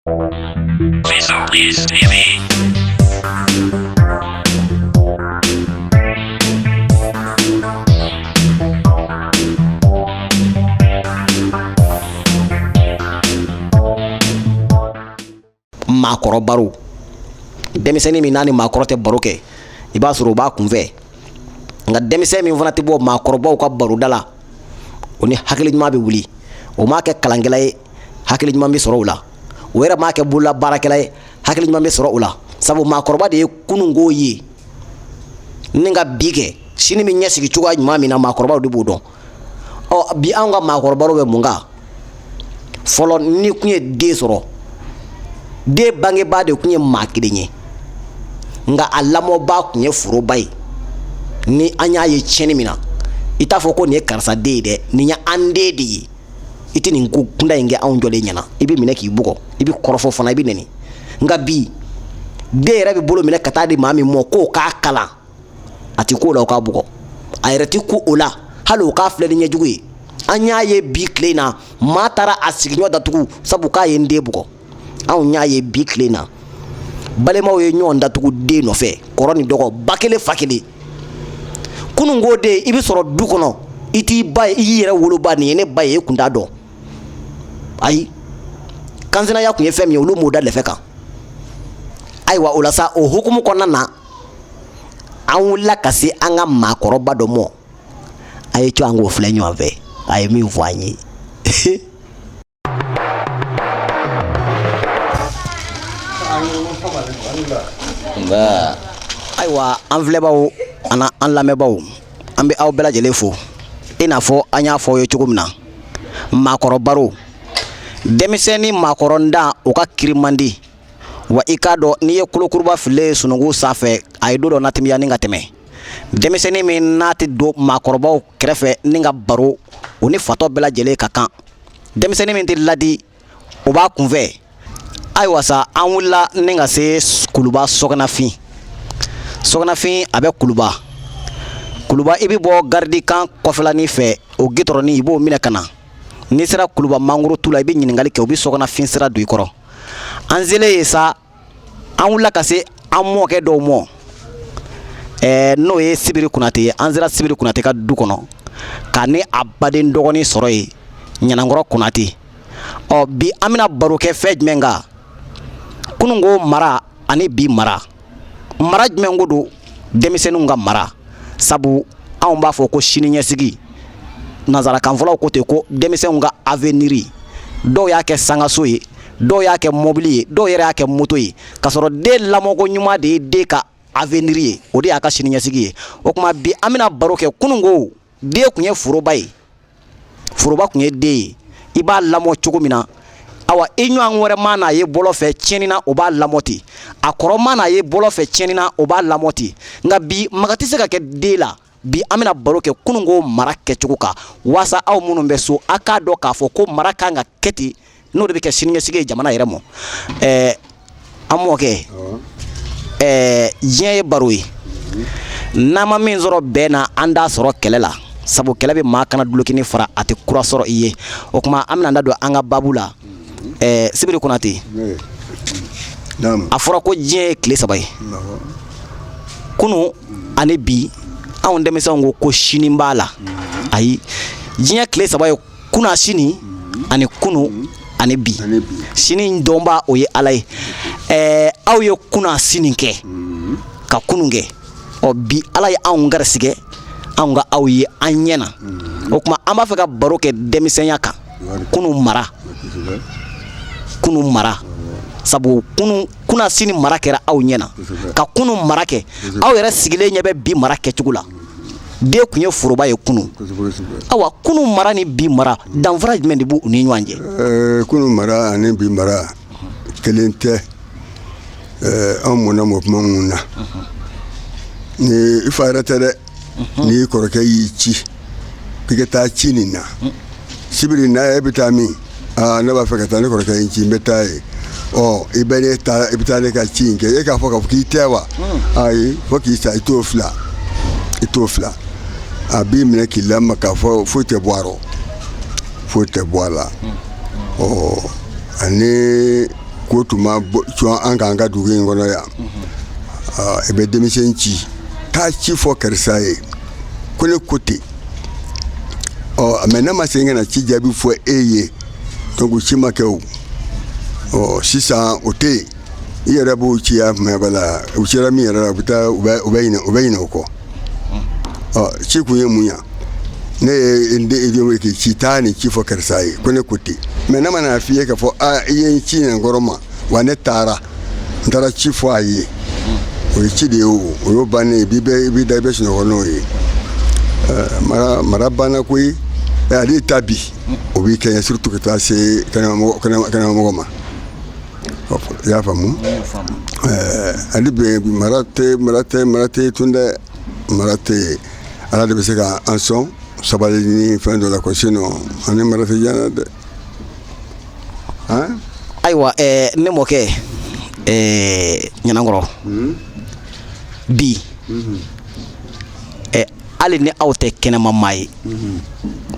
maakɔrɔ baro denmisɛnnin min n'a ni maakɔrɔ tɛ baro kɛ i b'a sɔrɔ o b'a kunfɛ nka denmisɛn min fana tɛ bɔ maakɔrɔbaw ka baroda la o ni hakili ɲuman bɛ wuli o m'a kɛ kalankɛla ye hakili ɲuman bɛ sɔrɔ o la o yɛrɛ m'a kɛ bolola baarakɛla ye hakili ɲuman bɛ sɔrɔ o la sabu maakɔrɔba de ye kununko ye ni ka bi kɛ sini bɛ ɲɛsigi cogoya ɲuman min na maakɔrɔbaw de b'o dɔn ɔ bi anw ka maakɔrɔbaw bɛ mun kan fɔlɔ ni kun ye den sɔrɔ den bangebaa de kun ye maa kelen ye nka a lamɔbaa kun ye foroba ye ni an y'a ye tiɲɛni min na i t'a fɔ ko nin ye karisa den ye dɛ nin ye an den de ye i tɛ nin ko kuntan in kɛ anw jɔlen ɲɛna i bɛ minɛ k'i bugɔ i bɛ kɔrɔfɔ fana i bɛ nɛni nka bi den yɛrɛ bɛ bolo minɛ ka taa di maa min ma k'o k'a kalan a tɛ k'o la o k'a bugɔ a yɛrɛ tɛ ko o la hali o k'a filɛ ni ɲɛjugu ye an y'a ye bi tile in na maa taara a sigiɲɔ datugu sabu k'a ye n den bugɔ anw y'a ye bi tile in na balimaw ye ɲɔgɔn datugu den nɔfɛ kɔrɔ ni dɔgɔ ba kelen fa kelen kununko den i bɛ sɔrɔ du kɔnɔ i t'i ba ye i y'i yɛrɛ woloba nin ye ne ba ye e kun t'a dɔn ayi kansinaya kun ye fɛn min ye olu m'o da lɛfɛ kan ayiwa o la sa o hukumu kɔnɔna na an wulila ka se an ka maakɔrɔba dɔ mɔ a ye co an k'o filɛ ɲɔgɔn fɛ a ye min fɔ an ye ayiwa an filɛbaw ani an lamɛnbaw an bɛ aw bɛɛ lajɛlen fo i n'a fɔ an y'a fɔ aw ye cogo min na maakɔrɔbaro denmisɛn ni maakɔrɔndan o ka kiri man di wa i k'a dɔn n'i ye kolokuruba fililen ye sununkun sanfɛ a ye don dɔ na timiya ni ka tɛmɛ denmisɛnnin min n'a tɛ don maakɔrɔbaw kɛrɛfɛ ni ka baro o ni fatɔ bɛɛ lajɛlen ka kan denmisɛnnin min tɛ ladi o b'a kunfɛ ayiwa sa an wulila ni ka se kuluba sɔgɔnafin sɔgɔnafin a bɛ kuluba kuluba i bɛ bɔ garidikan kɔfɛlanin fɛ o gitɔrɔnin i b'o minɛ ka na n'i sera kuluba mangoro tu la i bɛ ɲininkali kɛ u bɛ sɔgɔnafin sira don i kɔrɔ an selen yen sa an wulila ka se an mɔkɛ dɔw mɔ ɛɛ n'o ye sibiri kunatɛ ye an sera sibiri kunatɛ ka du kɔnɔ k'a ni a baden dɔgɔnin sɔrɔ yen ɲanankɔrɔ kunatɛ ɔ bi an bɛna baro kɛ fɛn jumɛn kan kununko mara ani bi mara mara jumɛn ko don denmisɛnninw ka mara sabu anw b'a fɔ ko siniɲɛsigi nanzarakanfɔlaw ko ten ko denmisɛnw ka avenir dɔw y'a kɛ sankanso ye dɔw y'a kɛ mɔbili ye dɔw yɛrɛ y'a kɛ moto ye k'a sɔrɔ den lamɔko ɲuman de ye den ka avenir ye o de y'a ka siniɲɛsigi ye o tuma bi an bɛna baro kɛ kununko den tun ye foroba ye foroba tun ye den ye i b'a lamɔ cogo min na awa i ɲɔgɔn wɛrɛ man'a ye bɔlɔn fɛ tiɲɛni na o b'a lamɔ ten a kɔrɔ man'a ye bɔlɔn fɛ tiɲɛni na o b'a lamɔ ten nka bi maga tɛ se ka kɛ den la bi an bɛna baro kɛ kununko mara kɛcogo kan waasa aw minnu bɛ so a k'a dɔn k'a fɔ ko mara kan ka kɛ ten n'o de bɛ kɛ siniɲɛsigi ye jamana yɛrɛ ma ɛɛ an mɔkɛ ɛɛ diɲɛ ye baro ye n'an ma min sɔrɔ bɛn na an t'a sɔrɔ kɛlɛ la sabu kɛlɛ bɛ maa kanna dulokini fara a tɛ kura sɔrɔ i ye o tuma an bɛna da don an ka baabu la ɛɛ sibiri konate a fɔra ko diɲɛ ye tile saba ye kunu ani bi anw denmisɛnw ko sini b'a la ayi diɲɛ tile saba ye kunasini ani kunu ani bi sini dɔnbaa o ye ala ye ɛɛ aw ye kunasini kɛ ka kunu kɛ ɔ bi ala ye anw garisigɛ anw ka aw ye an ɲɛ na o tuma an b'a fɛ ka baro kɛ denmisɛnya kan kunu mara kunu mara sabu kunasini mara kɛra aw ɲɛ na ka kunu mara kɛ aw yɛrɛ sigilen ɲɛ bɛ bi mara kɛcogo la den tun ye foroba ye kunun awa kunun mara ni bi mara danfara jumɛn de b'u ni ɲɔgɔn cɛ eh, kunun mara ani bi mara kelen tɛ eh, an mɔna mɔ kuma min na ni i fa yɛrɛ tɛ dɛ n'i kɔrɔkɛ y'i ci k'i ka taa ci nin na sibiri na yan e bɛ taa min aa ne b'a fɛ ka taa ne kɔrɔkɛ ye n ci n bɛ taa yen ɔ i bɛ ne ta i bɛ taa ne ka ci in kɛ e k'a fɔ k'a fɔ k'i tɛ wa ayi fo k'i sa i t'o fila i t'o fila a b'i minɛ k'i lamaga foyi tɛ bɔ a rɔ foyi tɛ bɔ a la ɔ ani ko tun ma bɔ cɔn an k'an ka dugu in kɔnɔ yan ɔ, i bɛ denmisɛn ci taa ci fɔ karisa ye ko ne ko ten ɔ mais ne ma segin ka na ci jaabi fɔ e ye donc ci ma kɛ o ɔ sisan o tɛ yen i yɛrɛ b'u ci yan mɛ bala u cira min yɛrɛ la u bɛ taa u bɛ u bɛ ɲinɛ u bɛ ɲinɛ o kɔ ɔ ci kun ye mun ye ne ye n den i jɔ n k'i ci taa nin ci fɔ karisa ye ko ne ko ten mais ne ma n'a f'i ye k'a fɔ aa i ye n ci nin kɔrɔ ma wa ne taara n taara ci fɔ a ye o ye ci de ye o o y'o bannen i b'i da i bɛ sunɔgɔ n'o ye mara mara banna koyi ale ta bi o b'i kɛɲɛ surtout ka taa se kɛnɛmamɔgɔ kɛnɛmamɔgɔ ma i y'a faamu ale bɛ mara tɛ mara tɛ mara tɛ tun dɛ mara tɛ ala de bɛ se ka an sɔn sabali ni fɛn dɔ la ko sinon an ni mara tɛ diya dɛ Ayiwa ne mɔkɛ Ɲanankɔrɔ bi hali ni aw tɛ kɛnɛma maa ye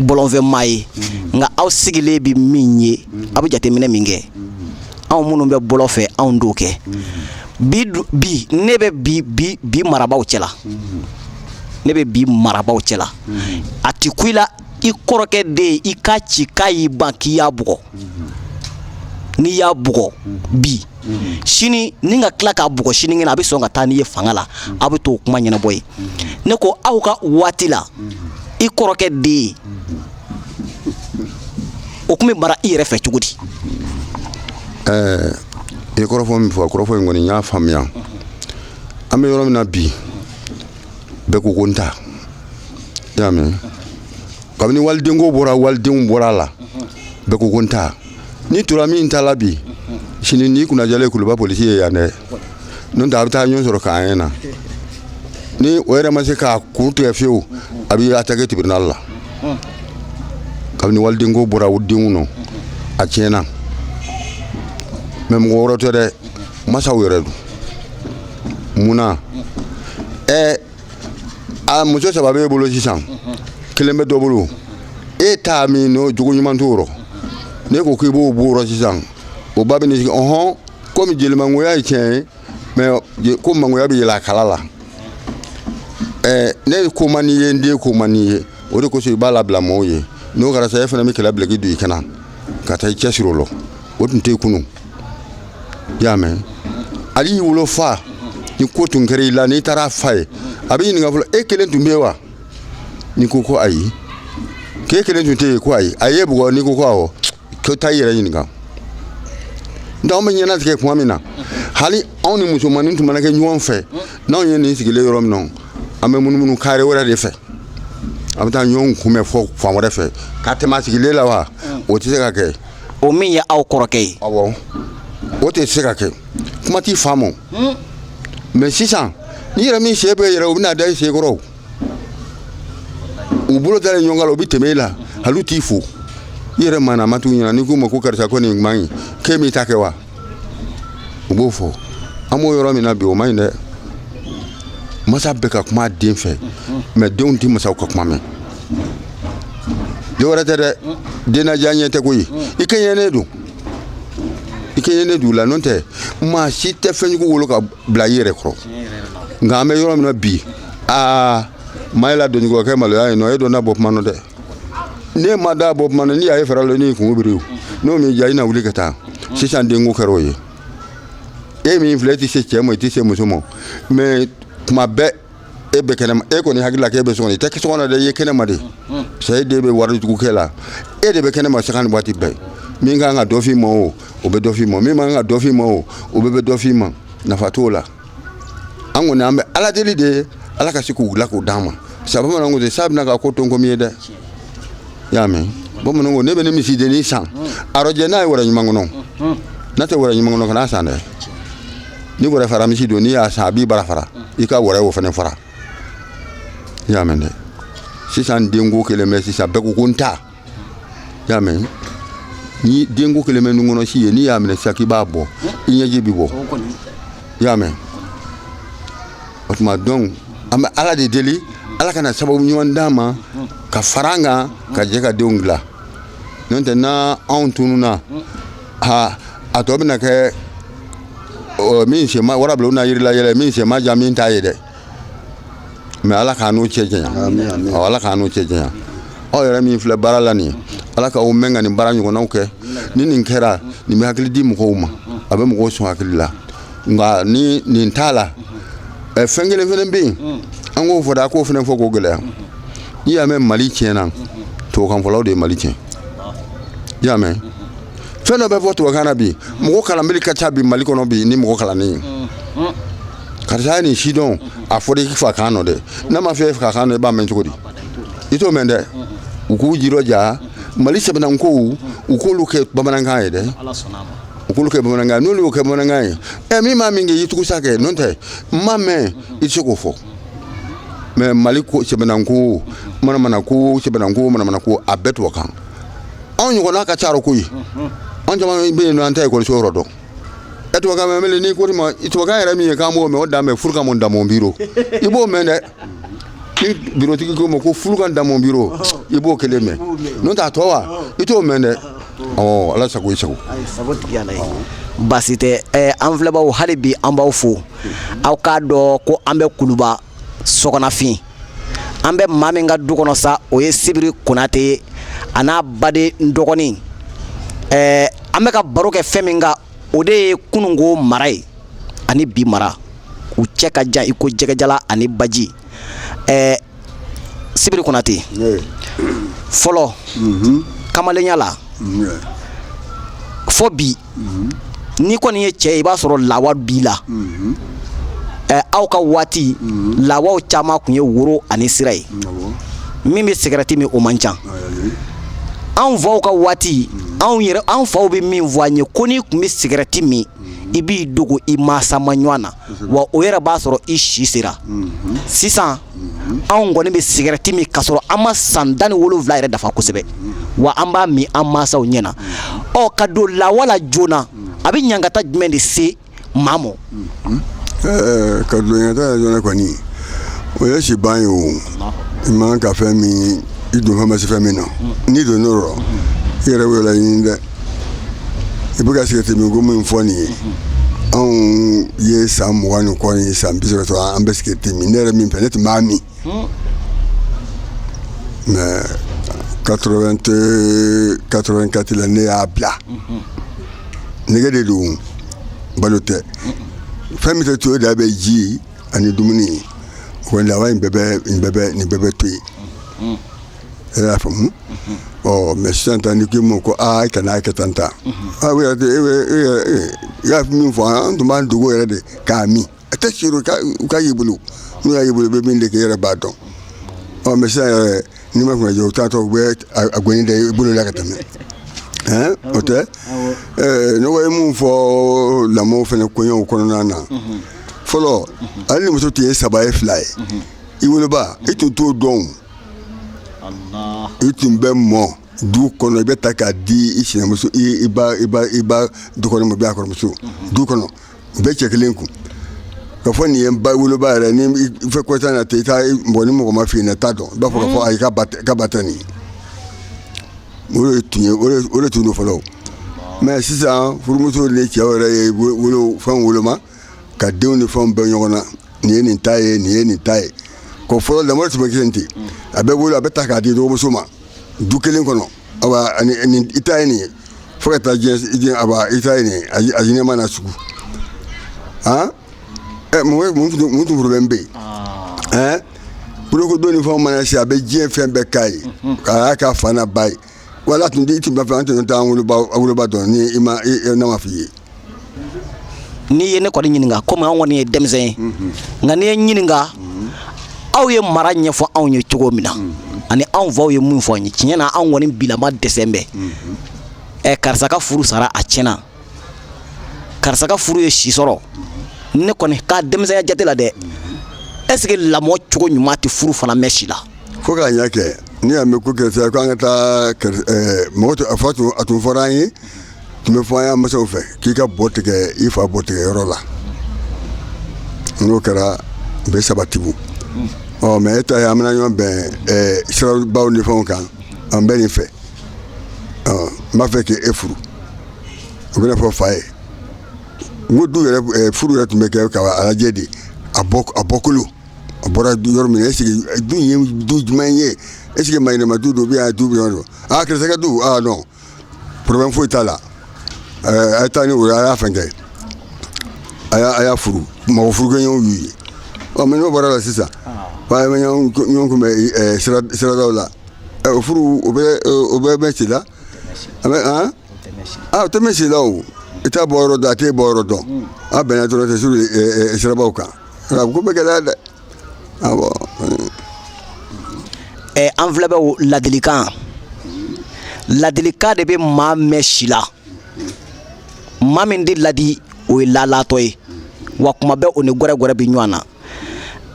bɔlɔn fɛ maa ye nka aw sigilen bɛ min ye aw bɛ jateminɛ min kɛ anw minnu bɛ bɔlɔn fɛ anw t'o kɛ bi bi ne bɛ bi bi bi marabaaw cɛla ne bɛ bi marabaaw cɛla a tɛ kun i la i kɔrɔkɛ den i k'a ci k'a y'i ban k'i y'a bugɔ n'i y'a bugɔ bi sini n'i ka tila k'a bugɔ sinikɛnɛ a bɛ sɔn ka taa n'i ye fanga la aw bɛ t'o kuma ɲɛnabɔ yen ne ko aw ka waati la i kɔrɔkɛ den o tun bɛ mara i yɛrɛ fɛ cogo di i ye kɔrɔfɔ min fɔ kɔrɔfɔ in kɔni n y'a faamuya an bɛ yɔrɔ min na bi bɛɛ ko ko n ta i y'a mɛn kabini walidenko bɔra walidenw bɔra a la bɛɛ ko ko n ta n'i tora min ta la bi sini n'i kunnadiyalen kuluba polisi ye yan dɛ n'o tɛ aw bɛ taa ɲɔgɔn sɔrɔ camp un na ni o yɛrɛ ma se k'a kun tigɛ fiyewu a bɛ attaquer tribunal la kabini walidenko bɔra o denw nɔ a tiɲɛna mɛ mɔgɔ wɛrɛ tɛ dɛ masaw yɛrɛ don mun na ɛ a muso saba b'e bolo sisan kelen bɛ dɔ bolo e ta min n'o jogo ɲuman t'o rɔ n'e ko k'i b'o b'o rɔ sisan o ba bɛ n'i sigi ɔhɔn komi jelemangoya ye tiɲɛ ye mɛ je- ko mangoya bɛ yɛlɛ a kala la ɛ ne ko man d'i ye n den ko man d'i ye o de kosɔn i b'a labila mɔɔw ye n'o kɛra sa e fana bɛ kɛlɛ bila k'i don i kana ka taa i cɛsiri o la o tun tɛ yen kunun i y'a mɛn ali i wolofa ni ko tun kɛra i la n'i taara a fɔ a ye a b'i ɲininka fɔlɔ e kelen tun bɛ yen wa n'i ko ko ayi k'e kelen tun tɛ yen ko ayi a ye bugɔ n'i ko ko awɔ ko taa i yɛrɛ ɲininka nka anw bɛ ɲɛnatigɛ tuma min na hali anw ni musomannin tun mana kɛ ɲɔgɔn fɛ n'anw ye nin sigilen yɔrɔ min na an bɛ munumunu kare wɛrɛ de fɛ an bɛ taa ɲɔgɔn kunbɛn fɔ fan wɛrɛ fɛ k'a tɛmɛ a sigilen la wa o tɛ se ka kɛ o min ye aw kɔrɔkɛ ye awɔ o tɛ se ka kɛ kuma t'i faamu hmm. mɛ sisan n'i yɛrɛ min se bɛ yɛrɛ u bɛna da i senkɔrɔ u bolo dalen ɲɔgɔn kan na u bɛ tɛmɛ i la hali u t'i fo i yɛrɛ maana ma t'u ɲɛna n'i k'u ma ko karisa ko nin man ɲi k'e m'i ta kɛ wa u b'o fɔ an b'o yɔrɔ min na bi o man ɲi dɛ masa bɛ ka kuma a den fɛ mɛ denw tɛ masaw ka kuma mɛn den wɛrɛ tɛ dɛ dennaja ɲɛ tɛ koyi i kɛɲɛnen don i kɛɲɛnen don u la n'o tɛ maa si tɛ fɛnjugu wolo ka bila i yɛrɛ kɔrɔ nka an bɛ yɔrɔ min na bi aa maa ye la denjugu kɛ maloya ye nɔ e da na bɔ kuma nɔ dɛ ne ma da bɔ kuma na n'i y'a ye fɛrɛ la n'i kungolo biri n'o m'i diya i na wuli ka taa sisan denko kɛra o ye e min filɛ e tɛ se cɛ ma i tɛ se muso ma mɛ tuma bɛɛ e bɛ kɛnɛma e kɔni hakili la k'e bɛ so kɔnɔ i tɛ so kɔnɔ dɛ i ye kɛnɛma de sa e den bɛ wale jugu kɛ la e de bɛ kɛnɛma sanga ni waati bɛɛ min kan ka dɔ f'i ma o o bɛ dɔ f'i ma min man kan ka dɔ f'i ma o o bɛɛ bɛ dɔ f'i ma nafa t'o la an kɔni an bɛ ala deli de ye ala ka se k'u dilan k'u d'an ma sabu bamananw ko ten sa bɛna ka ko to n komi ye dɛ i y'a mɛn bamananw ko n'i bɛna misidennin san a rɔjɛ n'a ye wɛrɛ ɲuman kɔnɔ n'a tɛ wɛrɛ ɲuman kɔnɔ kana san dɛ ni wɛrɛ fara misi don n'i y'a san a b'i bara fara i ka wɛrɛ o fana fara i y'a mɛn dɛ sisan denko kɛlen bɛ sisan bɛɛ ko ko n ta y'a mɛn ni denko kɛlen bɛ nun kɔnɔ si ye n'i y'a minɛ sisan k'i b'a bɔ i ɲɛji bɛ bɔ i y'a mɛn o tuma donc an bɛ ala de deli ala ka na sababu ɲuman d'an ma ka fara an kan ka jɛ ka denw dilan n'o tɛ na anw tununna ha a tɔ bɛna kɛ min sen man wara bila u na yirila yɛlɛ min sen man jan min ta ye dɛ mɛ ala k'an n'o cɛ janya ala k'an n'o cɛ janya aw yɛrɛ min filɛ baara la nin ala k'aw mɛn ka nin baara ɲɔgɔnnaw kɛ ni nin kɛra nin bɛ hakili di mɔgɔw ma a bɛ mɔgɔw sɔn hakili la nka ni nin t'a la fɛn kelen fana bɛ yen an k'o fɔ dɛ a k'o fana fɔ k'o gɛlɛya n'i y'a mɛn mali tiɲɛna tubabukanfɔlaw de ye mali tiɲɛ i y'a mɛn fɛn dɔ bɛ fɔ tubabukan na bi mɔgɔ kalanbali ka ca bi mali kɔnɔ bi ni mɔgɔ kalannen ye karisa ye nin sidɔn a fɔra i fa kan nɔ dɛ n'a ma f'e fa kan nɔ i b'a mɛn cogo di i t'o mɛn dɛ u k'u jirɔja mali sɛbɛnnan kow u k'olu kɛ bamanankan ye dɛ u k'olu kɛ bamanankan n'olu y'o kɛ bamanankan ye ɛ min m'a mɛn k'i y'i tugu sa kɛ n'o tɛ n m'a mɛn i tɛ se k'o fɔ mɛ mali ko sɛbɛnnan ko manamana ko sɛbɛnnan ko manamana ko a bɛɛ tubabukan anw ɲɔgɔnna ka ca o ko ye anw caman bɛ yen nɔ an tɛ ekɔliso yɔrɔ dɔn E tubabukan mɛnna n'i ko ma i tubabukan yɛrɛ min ye k'an b'o mɛn o dama ye fous le camp mon dans mon bureau i b'o mɛn dɛ ni birotigi ko ma ko fous le camp dans mon bureau i b'o kelen mɛn n'o tɛ a tɔ wa i t'o mɛn dɛ ɔ ala sago i sago baasi tɛ an filɛbaw hali bi an b'aw fo aw k'a dɔn ko an bɛ kuluba sɔgɔnafin an bɛ maa min ka du kɔnɔ sa o ye sibiri konatɛ ye a n'a baden dɔgɔnin ɛɛ an bɛ ka baro kɛ fɛn min kan o de ye kununko mara ye ani bi mara u cɛ ka jan i ko jɛgɛjalan ani baji ɛɛ sibiri konatɛ fɔlɔ mhm. kamalenya la fo bi n'i kɔni ye cɛ i b'a sɔrɔ lawa b'i la aw ka waati lawa caman tun ye woro ani sira ye min bɛ sigarɛti min o man ca anw faw ka waati anw yɛrɛ anw faw bɛ min fɔ an ye ko n'i tun bɛ sigarɛti min i b'i dogo i mansa ma ɲɔgɔn na wa o yɛrɛ b'a sɔrɔ i si sera sisan anw kɔni bɛ sigarɛti min k'a sɔrɔ an ma san tan ni wolonwula yɛrɛ dafa kosɛbɛ wa an b'a min an mansaw ɲɛ na ɔ ka don lawa la joona a bɛ ɲangata jumɛn de se maa ma ɔ ka don ɲangata joona kɔni o ye si ban ye o i man kan fɛn min i donfɛn ma se fɛn min na n'i donn'o rɔ i yɛrɛ wele ɲini dɛ i bɛ ka sigarɛti min ko min fɔ nin ye anw ye san mugan ni kɔ ye san bi sɔrɔ an bɛ sigarɛti min ne yɛrɛ min fɛnɛ tun b'a min mɛ quatre-vingt-quatre la ne y'a bila nɛgɛ de don balo tɛ fɛn min tɛ to da bɛ ji ani dumuni o lawa bɛɛ bɛ nin bɛɛ bɛ to yen e y'a faamu ɔ mɛ sisan tan ni k'i ma ko aa kan'a kɛ tan ta y'a min fɔ an tun b'an dogo yɛrɛ de k'a min a tɛ se u k'a y'i bolo n'u y'a y'i bolo bɛ min de k'i yɛrɛ b'a dɔn ɔ mɛ sisan yɛrɛ n'i ma kun jɔ u taatɔ u bɛ a gɔni da i bolo la ka tɛmɛ o tɛ ne ye min fɔ lamɔ fana koɲɔgɔnw kɔnɔna na fɔlɔ hali ni muso tun ye saba ye fila ye i woloba i tun t'o dɔn i tun bɛ mɔ du kɔnɔ i bɛ ta k'a di i sinamuso i ba i ba i ba dukɔnɔmɔ bɛ a kɔrɔmuso du kɔnɔ u bɛ cɛ kelen kun ka fɔ nin ye ba woloba yɛrɛ ni fɛ kɔsa na ten i taa mɔgɔ ni mɔgɔ m'a f'i ɲɛ na t'a dɔn i b'a fɔ ka fɔ ayi ka ba tɛ nin o de tun ye o de tun don fɔlɔ mɛ sisan furumuso ni cɛ yɛrɛ ye wolo fɛn woloma ka denw ni fɛnw bɛɛ ɲɔgɔn na nin ye nin ta ye nin ye nin ta ye ko fɔlɔ lamɔ tun bɛ kɛ ten a bɛ wolo a bɛ ta k'a di dɔgɔmuso ma du kelen kɔnɔ i ta ye nin ye fo ka taa diɲɛ a ba i ta ye nin a ɲɛma na sugu han ɛ mun tun problème bɛ yen ɛɛ bolokodon ni fɛnw mana se a bɛ diɲɛ fɛn bɛɛ k'a ye k'a y'a ka fa n'a ba ye wala tun tɛ i tun bɛ fɛ an tun taa woloba dɔn ni i ma ne ma f'i ye n'i ye ne kɔni ɲininka komi an kɔni ye denmisɛn ye mhm. nka n'i ye n ɲininka mhm. aw ye mara ɲɛfɔ anw ye cogo min na mhm. ani anw faw ye mun fɔ an ye tiɲɛ na anw kɔni bilama dɛsɛlen bɛ ɛ karisa ka furu sara a tiɲɛna karisa ka furu ye si sɔrɔ ne kɔni ka denmisɛnya jate la dɛ est ce que lamɔ cogo ɲuman tɛ furu fana mɛn si la fo k'a ɲɛ kɛ n'i y'a mɛn ko karisa ko an ka taa eh, mɔgɔ tun a fa tun a tun fɔra an ye tun bɛ fɔ an y'a masaw fɛ k'i ka bɔ tigɛ i fa bɔ tigɛ yɔrɔ la n'o kɛra u bɛ sabati ɔ mɛ e ta ye an bɛna ɲɔgɔn bɛn eh, sirabaw ni fɛnw kan an bɛ nin fɛ ɔ n b'a fɛ k'e furu u bɛna fɔ fa ye n du furu yɛrɛ tun bɛ kɛ k'a lajɛ de a bɔkolo a bɔra yɔrɔ min na est ce que du ye du jumɛn ye est ce que maa ɲɛnama du don bɛ du bɛ aa ki du dɔn problème foyi t'a la a ye taa ni o ye a y'a fɛn kɛ a a y'a furu mɔgɔ furukɛɲɔgɔn y'u ye ɔ mɛ n'o bɔra la sisan ɲɔgɔn kunbɛn siradaw la furu bɛ mɛn si la a bɛ an a tɛ mɛn si la o i t'a bɔ yɔrɔ dɔn a t'e bɔ yɔrɔ dɔn a bɛnna dɔrɔn tɛ suru sirabaw kan a ko bɛ gɛlɛya dɛ awɔ ɛ an filɛ bɛ o ladilikan ladilikan de bɛ maa mɛn si la maa min tɛ ladi o ye lalatɔ ye wa kuma bɛɛ o ni gɛrɛgɛrɛ bɛ ɲɔgɔn na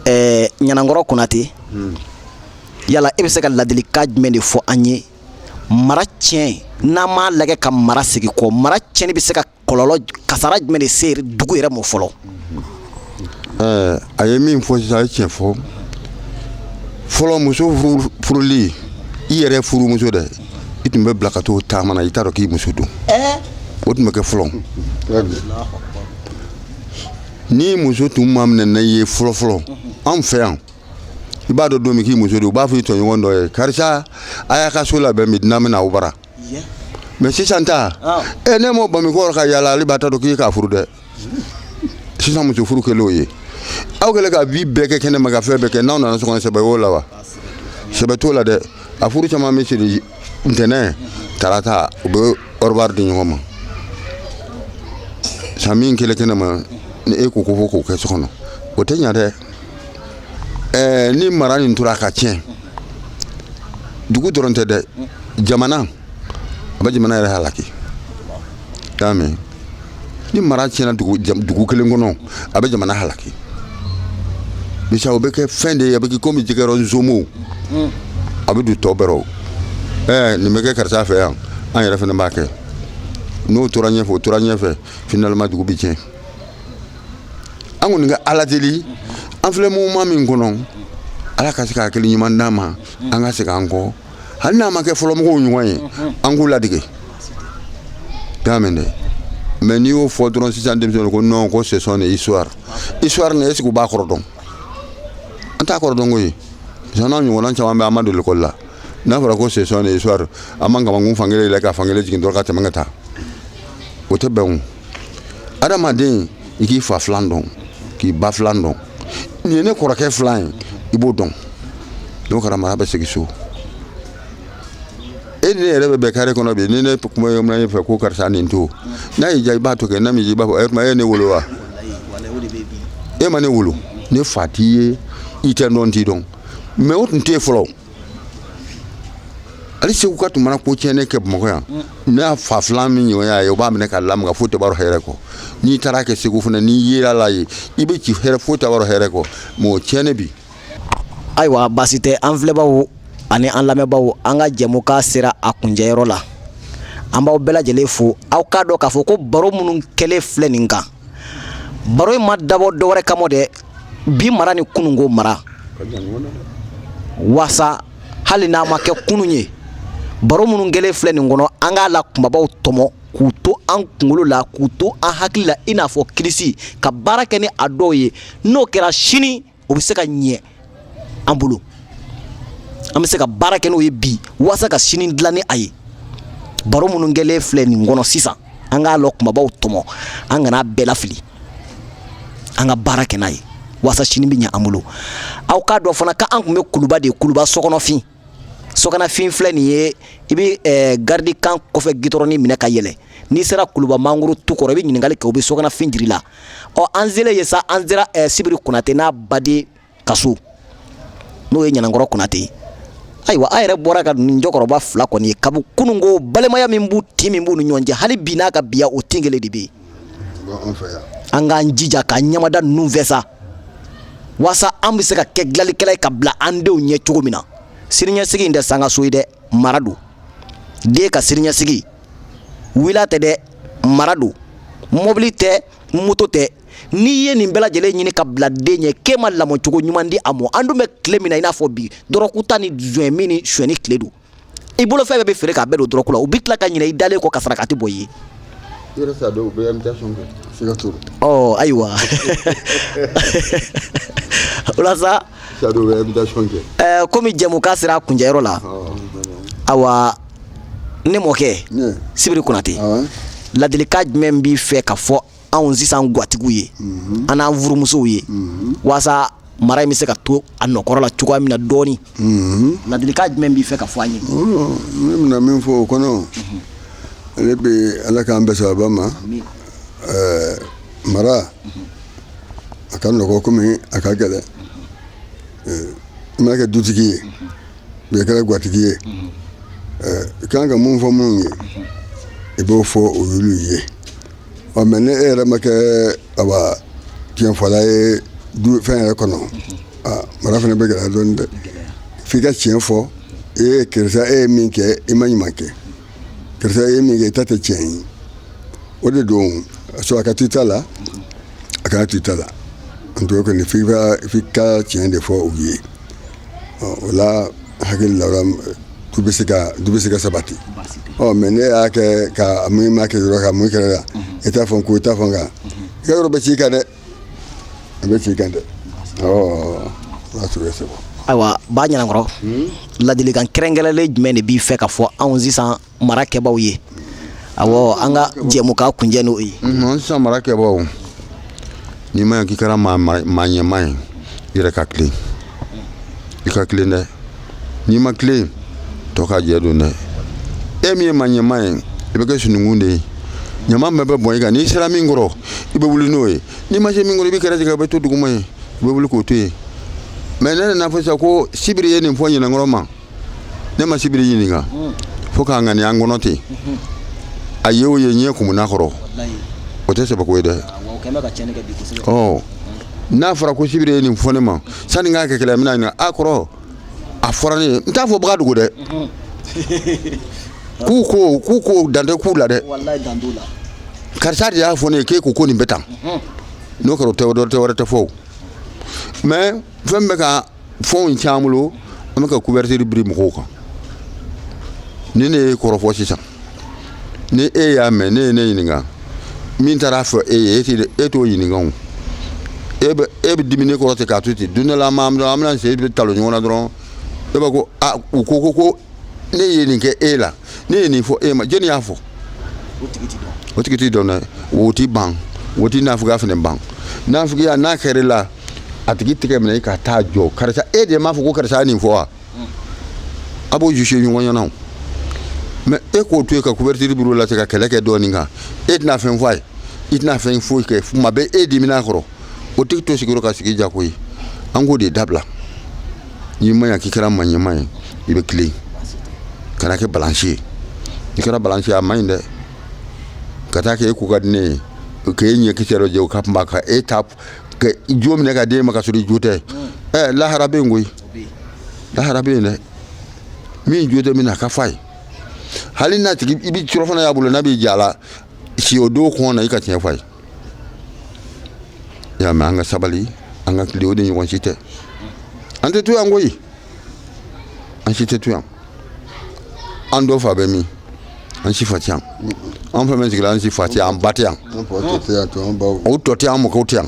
ɛɛ ɲanankɔrɔ konate yala e bɛ se ka ladilikan jumɛn de fɔ an ye mara tiɲɛ n'an m'a lajɛ ka mara segin kɔ mara tiɲɛni bɛ se ka kɔlɔlɔ kasara jumɛn de se dugu yɛrɛ ma fɔlɔ eh, a ye min fɔ sisan a ye tiɲɛ fɔ fɔlɔ muso furuli i yɛrɛ furumuso dɛ i tun bɛ bila ka t'o taama na i t'a dɔn k'i muso don eh? o tun bɛ kɛ fɔlɔ ni muso tun maminɛna i ye fɔlɔfɔlɔ anw fɛ yan i b'a dɔn don min k'i muso don u b'a fɔ i tɔɲɔgɔn dɔ ye karisa a y'a ka so labɛn bi dunan bɛna aw bara mɛ sisan ta e n'e m'o bamu i kɔ ka yaala ale ba t'a dɔn k'i k'a furu dɛ sisan muso furu kɛlen o ye aw kɛlen ka vie bɛɛ kɛ kɛnɛ ma ka fɛn bɛɛ kɛ n'aw nana so kɔnɔ sɛbɛ y'o la wa sɛbɛ t'o la dɛ a furu caman bɛ siri ntɛnɛn tarata u bɛ ɔrɔbari di ɲɔgɔn ma san min kɛlen kɛnɛ ma ni e ko ko fo k'o kɛ so kɔnɔ o tɛ ɲa dɛ ɛɛ ni mara nin tora ka tiɲɛ dugu dɔrɔn tɛ dɛ jamana a bɛ jamana yɛrɛ halaki y'a mɛn ni mara tiɲɛna dugu dugu kelen kɔnɔ a bɛ jamana halaki misa o bɛ kɛ fɛn de ye a bɛ kɛ komi jɛgɛ rɔ nzomo a bɛ don tɔ bɛɛ rɔ ɛɛ nin bɛ kɛ karisa fɛ yan an yɛrɛ fana b'a kɛ n'o tora ɲɛfɛ o tora ɲɛfɛ finalement dugu bɛ tiɲɛ an kɔni ka ala deli an filɛ moment min kɔnɔ ala ka se ka hakili ɲuman d'an ma an ka segin an kɔ hali n'a ma kɛ fɔlɔmɔgɔw ɲɔgɔn ye an k'u ladege y'a mɛn dɛ mais n'i y'o fɔ dɔrɔn sisan denmisɛnninw ko non ko ce sont des histoires histoire nin est-ce que u b'a kɔrɔ dɔn an t'a kɔrɔ dɔn koyi n'an ɲɔgɔnna caman bɛ an ma don l'école la n'a fɔra ko ce sont des histoires an b'an kamankun fankelen yɛlɛ ka fankelen jigin dɔrɔn ka tɛmɛ ka taa o tɛ bɛn o adamaden i k'i fa filan dɔn k'i ba filan dɔn nin ye ne kɔrɔkɛ filan ye i b'o dɔn n'o kɛra mara bɛ segin so e ni ne yɛrɛ bɛ bɛn kare kɔnɔ bi ni ne kuma ye mun fɛ ko karisa nin to n'a y'i diya i b'a to kɛ n'a m'i diya i b'a fɔ e tuma e ye ne wolo wa e ma ne wolo ne fa t'i ye i tɛ dɔn t'i dɔn mais o tun tɛ yen fɔlɔ Hali seguka tun mana ko tiɲɛnen kɛ bamakɔ yan ne y'a fa filan min ɲɔgɔn y'a ye o b'a minɛ ka la foyi tɛ hɛrɛ kɔ n'i taara kɛ segu fana n'i yera la ye i bɛ ci hɛrɛ foyi tɛ hɛrɛ kɔ mais o tiɲɛnen bi ayiwa baasi tɛ an filɛbaw ani an lamɛnbaw an ka jɛmukan sera a kuncɛyɔrɔ la an b'aw bɛɛ lajɛlen fo aw k'a dɔn k'a fɔ ko baro minnu kɛlen filɛ nin kan baro in ma dabɔ dɔwɛrɛ kama dɛ bi mara ni kununko mara waasa hali n'a ma kɛ kunun ye baro minnu kɛlen filɛ nin kɔnɔ an k'a la kumabaw tɔmɔ k'u to an kunkolo la k'u to an hakili la i n'a fɔ kirisi ka baara kɛ ni a dɔw ye n'o kɛra sini o bɛ se ka ɲɛ an bolo an bɛ se ka baara kɛ n'o ye bi waasa ka sini dilan ni a ye baro minnu kɛlen filɛ nin kɔnɔ sisan an k'a lɔ kumabaw tɔmɔ an kana bɛɛ lafili an ka baara kɛ n'a ye waasa sini bɛ ɲɛ an bolo aw k'a dɔn fana k'an tun bɛ kuluba de kuluba sogonafin sogonafin filɛ nin ye i bɛ eh, garidikan kɔfɛ gitɔrɔni minɛ ka yɛlɛ n'i sera kuluba mangoro tu kɔrɔ i bɛ ɲininkali kɛ u bɛ sogonafin jira i la ɔ an selen ye sa an sera eh, sibiri konate n'a baden ka so n'o ye ɲanankɔrɔ konate ye ayiwa a yɛrɛ bɔra ka nin cɛkɔrɔba fila kɔni ye kabi kunun ko balimaya min b'u tin min b'u ni ɲɔgɔn cɛ hali bi n'a ka biya o tin kelen de bɛ yen an k'an jija k'an ɲɛmada ninnu fɛ sa walasa an bɛ se ka kɛ dilalikɛla ye ka bila an denw ɲɛ cogo min na siniɲɛsigi in tɛ sankanso ye dɛ mara don den ka siniɲɛsigi villa tɛ dɛ mara don mobili tɛ moto tɛ n'i ye nin bɛɛ lajɛlen ɲini ka bila den ɲɛ k'e ma lamɔcogo ɲuman di a mɔ an dun bɛ tile min na i n'a fɔ bi dɔrɔguta ni joint min ni suyɛni tile don i bolo fɛn bɛɛ bɛ feere k'a bɛɛ don dɔrɔgu la u bɛ tila ka ɲinɛ i dalen kɔ ka saraka tɛ bɔ i ye ɔ ayiwa o la sa komi jɛmukan sera a kuncɛyɔrɔ la awa ne mɔkɛ sibiri konate ladilikan jumɛn b'i fɛ ka fɔ anw sisan gwatigiw ye mhm. an n'an furumusow ye mhm. walasa mara in bɛ se ka to a nɔkɔrɔ la cogoya min na dɔɔni mhm. ladilikan jumɛn b'i fɛ ka fɔ an ye ne bɛna min fɔ o kɔnɔ ale bɛ ala k'an bɛɛ sababa ma mara a ka nɔgɔ komi a ka gɛlɛn i mana kɛ dutigi ye bɛɛ kɛra gwatigi ye i kan ka mun fɔ minnu ye i b'o fɔ o y'olu ye ɔ mɛ ni e yɛrɛ ma kɛ awa tiɲɛfɔla ye fɛn yɛrɛ kɔnɔ mara fana bɛ gɛlɛya dɔɔni dɛ f'i ka tiɲɛ fɔ e ye karisa e ye min kɛ i ma ɲuman kɛ karisa e ye min kɛ i ta tɛ tiɲɛ ye o de don so a ka t'i ta la a kana t'i ta la n to kɔni f'i ka f'i ka tiɲɛ de fɔ u ye ɔ o la hakili la du bɛ se ka du bɛ se ka sabati ɔ mɛ n'i y'a kɛ ka mun ma kɛ yɔrɔ ka mun kɛra la i t'a fɔ ko i t'a fɔ kan i ka yɔrɔ bɛ ci i kan dɛ a bɛ ci i kan dɛ ɔ o y'a sɔrɔ i sɛgɛn ayiwa ba ɲanankɔrɔ ladilikan kɛrɛnkɛrɛnlen jumɛn de b'i fɛ ka fɔ anw sisan mara kɛbaaw ye awɔ an ka jɛmukan kuncɛ n'o ye Unhun, sisan mara kɛbaaw n'i ma ɲɛ k'i kɛra maa maa- maa ɲɛmaa ye i yɛrɛ ka tilen i ka tilen dɛ n'i ma tilen tɔ ka jɛ don dɛ e min ye maa ɲɛmaa ye i bɛ kɛ sununkun de ye ɲaman bɛɛ bɛ bɔn i kan n'i sera min kɔrɔ i bɛ wuli n'o ye n'i ma se min kɔrɔ i b'a kɛrɛ tigɛ i bɛ to duguma yen i bɛ wuli k'o to yen mɛ n'a nana fɔ sisan ko sibiri ye nin fɔ ɲanankɔrɔ ma ne ma sibiri ɲininka mm. fo k'a ŋaniya n kɔnɔ ten mm-hmm. a ye o ye ɲɛ kumuna kɔrɔ o tɛ sɛbɛko ye dɛ ah, oh. mm. n'a fɔra ko sibiri ye nin fɔ ne ma sani k'a kɛ kɛlɛ n bɛna ɲininka a kɔrɔ a fɔra ne ye n t'a fɔbaga dogo dɛ mm-hmm. k'u ko k'u ko dan tɛ k'u la dɛ karisa de y'a fɔ ne ye k'e ko ko nin bɛ tan mm-hmm. n'o kɛra o tɛ wɛrɛ tɛ fɔ o mɛ fɛn bɛ ka fɛnw caman bolo an bɛ ka couverture biri mɔgɔw kan ni ne y'e kɔrɔfɔ sisan ni e y'a mɛn ne ye ne ɲininka min taar'a fɔ e ye e tɛ e t'o ɲininka o e bɛ e bɛ dimi ne kɔrɔ ten k'a to ten don dɔ la an b'a an bɛna se e bɛ talon ɲɔgɔn na dɔrɔn e b'a ko a u ko ko ko ne ye nin kɛ e la ne ye nin fɔ e ma jɔnni y'a fɔ o tigi ti dɔn o tigi ti dɔn dɛ o ti ban o ti nafigiya fana ban nafigiya n'a kɛra la a tigi tɛgɛ minɛ ka taa jɔ karisa e de m'a fɔ ko karisa ye nin fɔ wa a b'o juger ɲɔgɔn ɲɛ na mais e k'o to yen ka couverture biri i la ka kɛlɛ kɛ dɔɔnin kan e tɛna fɛn fɔ a ye i tɛna fɛn foyi kɛ tuma bɛɛ e diminen kɔrɔ o tigi to sigiyɔrɔ ka sigi jako ye an k'o de dabila n'i ma ɲa k'i kɛra maa ɲɛmaa ye i bɛ tilen kana kɛ balansi ye n'i kɛra balansi ye a man ɲi dɛ ka taa kɛ e ko ka di ne ye k'e ɲɛ kisɛ dɔ jɛ o ka kunba ka e ta ka jo minɛ ka d'e ma ka sɔrɔ i jo tɛ ɛ lahara bɛ yen koyi lahara bɛ yen dɛ min jo tɛ min na a k'a f'a ye hali n'a tigi i bɛ surɔfana y'a bolo n'a b'i ja la si o don kɔngɔ la i ka tiɲɛ f'a ye i y'a mɛn an ka sabali an ka tilen o de ɲɔgɔn si tɛ an tɛ to yan koyi an si tɛ to yan an dɔ fa bɛ min an si fa tɛ yan an fɛn fɛn sigira an si fa tɛ yan an ba tɛ yan o tɔ tɛ yan an mɔkɛw tɛ yan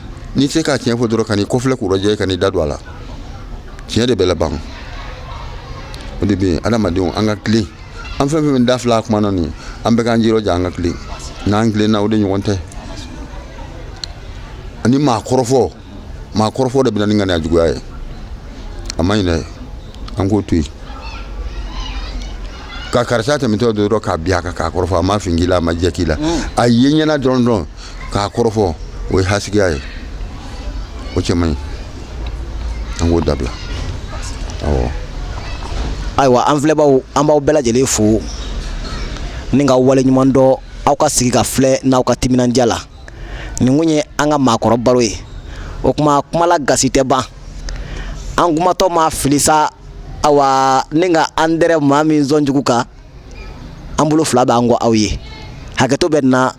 n'i tɛ se ka tiɲɛ fɔ dɔrɔn kan'i kɔ filɛ k'u rɔjɛ kan'i da don a la tiɲɛ de bɛ laban o de bɛ yen adamadenw an ka tilen an fɛn fɛn bɛ da fila a kuma na nin an bɛɛ k'an jirɔja an ka tilen n'an tilenna o de ɲɔgɔn tɛ ani maa kɔrɔfɔ maa kɔrɔfɔ de bɛ na ni ŋaniya juguya ye a man ɲi dɛ an k'o to yen ka karisa tɛmɛtɔ dɔrɔn ka bin a kan k'a kɔrɔfɔ a ma fin k'i la a ma jɛ k'i la a ye ɲɛna dɔrɔn dɔrɔn k'a kɔrɔfɔ o ye hasigiya ye o cɛ man ɲi an k'o dabila awɔ ayiwa an filɛbaaw an b'aw bɛɛ lajɛlen fo ni k'aw waleɲumandɔn aw ka sigi ka filɛ n'aw ka timinandiya la nin tun ye an ka maakɔrɔ baro ye o kuma kumala gasi tɛ ban an kumatɔ ma fili sa awa ni ka an dɛrɛ maa min sɔn jugu kan an bolo fila b'an kɔ aw ye hakɛto bɛ na